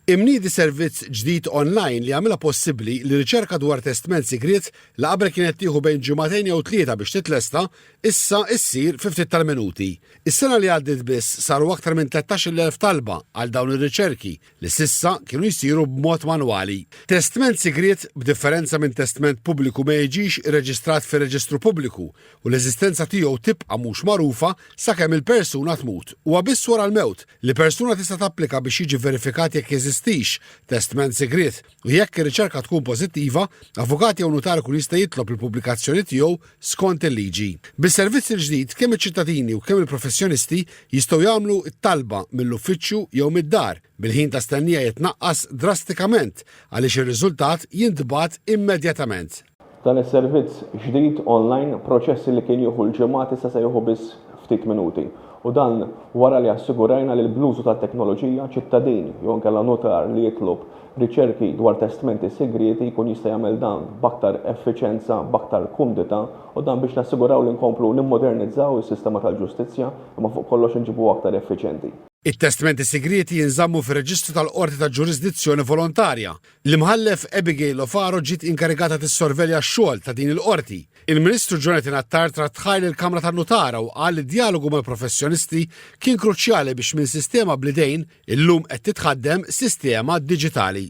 Imniedi servizz ġdid online li jagħmilha possibbli li riċerka dwar testment sigriet li qabel kienet tieħu bejn ġimagħtejn jew tlieta biex titlesta, issa issir fi ftit tal-minuti. Is-sena li għaddiet biss saru aktar minn 13,000 talba għal dawn ir-riċerki li s'issa kienu jsiru b'mod manwali. Testment sigriet, b'differenza minn testment pubbliku ma jiġix irreġistrat fir-reġistru pubbliku u l-eżistenza tiegħu tibqa' mhux magħrufa sakemm il-persuna tmut. Huwa biss wara l-mewt li persuna tista' tapplika biex jiġi verifikat jekk jeżistix testment sigriet u jekk ir-riċerka tkun pożittiva, avukat jew nutar ikun jista' jitlob il-pubblikazzjoni tiegħu skont il-liġi. Bis-servizz il-ġdid, kemm iċ-ċittadini u kemm il-professjonisti jistgħu jagħmlu t-talba mill-uffiċċju jew mid-dar, bil-ħin ta' stennija jitnaqqas drastikament għaliex ir-riżultat jintbagħat immedjatament. Dan is-servizz ġdid online, proċess li kien jieħu l-ġimgħat issa se jieħu biss ftit minuti. U dan wara li assigurajna li bl-użu tat-teknoloġija, ċittadin jew inkella nutar li jitlob riċerki dwar testmenti sigrieti jkun jista' jagħmel dan b'aktar effiċenza, b'aktar kumdità u dan biex nassiguraw li nkomplu nimmodernizzaw is-sistema tal-ġustizzja imma fuq kollox inġibuha aktar effiċenti. It-testmenti sigrieti jinżammu fir-reġistru tal-qorti ta' ġurisdizzjoni volontarja L-Imħallef Abigail O'Farrell ġiet inkarigata tissorvelja x-xogħol ta' din il-Qorti. Il-Ministru Jonathan Attard rat tħajr lill-Kamra tan-Nutara u qal li d-djalogu mal-professjonisti kien kruċjali biex minn sistema bl-idejn illum qed titħaddem sistema diġitali.